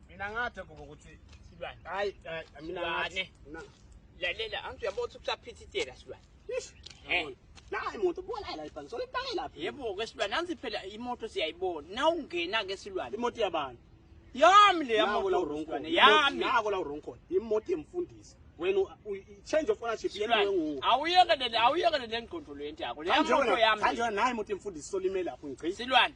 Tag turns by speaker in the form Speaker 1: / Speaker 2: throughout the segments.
Speaker 1: mina ngathe kuba ukuthi silwane hayi mina
Speaker 2: ngathi
Speaker 1: lalela angithi uyabona ukuthi kusaphithitela silwane
Speaker 2: nayi moto buka la ibhange sona ibhange laphi yebo ke silwane anzi
Speaker 1: phela imoto siyayibona na ungena ke silwane imoto yabantu
Speaker 2: yami le
Speaker 1: yami la uronko
Speaker 2: yami
Speaker 1: nako la
Speaker 2: uronko imoto yemfundisi wena change of ownership yena wengu awuyeke le awuyeke
Speaker 1: le ngqondo lento yakho le imoto yami kanjena nayi imoto yemfundisi
Speaker 2: solimela lapho ngigcina silwane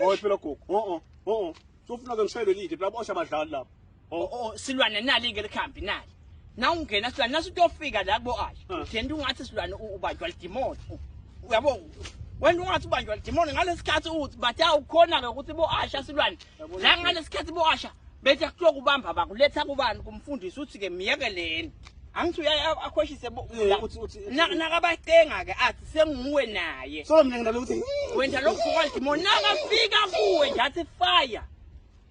Speaker 2: Oy phela gogo. Oh oh. Oh. Sofuna ke ngishayele lide phela bosha abadlali lapha. Oh oh silwane nali ke
Speaker 1: likhambi nali. Na ungena silwane nasu utofika la kubo ayi. Uthenda ungathi silwane ubanjwa lidimoni. Uyabo wena ungathi ubanjwa lidimoni ngalesikhathi uthi bathi awukhona ke ukuthi bo asha silwane. La ngalesikhathi bo asha bethe kuhlokubamba bakuletha kubani kumfundisi uthi ke miyekeleni. angithi uyaye akhoshise nakabacenga-ke athi senguwe naye so mina ngidala ukuthi
Speaker 2: wena lo mfokalidimoni
Speaker 1: nakafika kuwe nje athi fire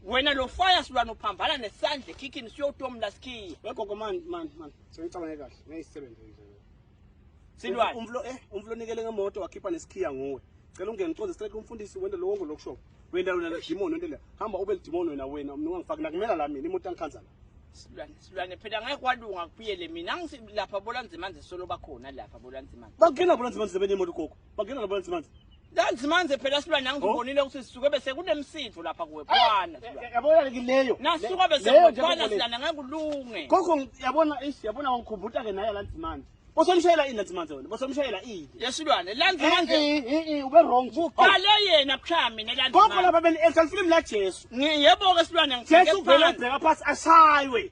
Speaker 1: wena lo fire silwana uphambana nesandla ekhikhini siyotomla sikhiya wegogo mani mani
Speaker 2: mani sengicabange kahle ngeyisisebenzi silwane
Speaker 1: umflo eh umflo
Speaker 2: nikele ngemoto wakhipha nesikhiya nguwe cela ungene uconze strike umfundisi wende lo wonke lokusho wenda wena demon wende le hamba ube demon wena wena mina ungangifaki nakumela la mina imoto angikhanza la silwane silwane phela ngeke
Speaker 1: kwalunga kuphiyele mina ngisi lapha bolanzimanzi solo bakhona lapha bolanzimanzi bangena bolanzimanzi bene
Speaker 2: imoto gogo bangena bolanzimanzi Kanti manje
Speaker 1: phela silwa nami ngibonile oh. ukuthi sisuke bese kunemsindvo lapha kuwe kwana. Eh, eh, yabona ke leyo.
Speaker 2: Nasuka bese kwana
Speaker 1: silana ngeke ulunge. Gogo yabona
Speaker 2: ish yabona wangikhumbuta ke naye lanzi manje. Bosomshayela ini lanzi manje wena? Bosomshayela ini? Yesilwane lanzi eh,
Speaker 1: manje. Eh eh ube wrong. Kuqale
Speaker 2: oh. yena
Speaker 1: cha mina lanzi. Gogo lapha beni exa
Speaker 2: film la Jesu. Ngiyebo ke silwane ngithike.
Speaker 1: Jesu vele ubheka
Speaker 2: phansi ashaywe.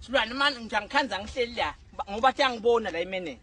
Speaker 1: Silwane manje ngithi angikhanzi angihleli la ngoba
Speaker 2: thi
Speaker 1: angibona la imenenja.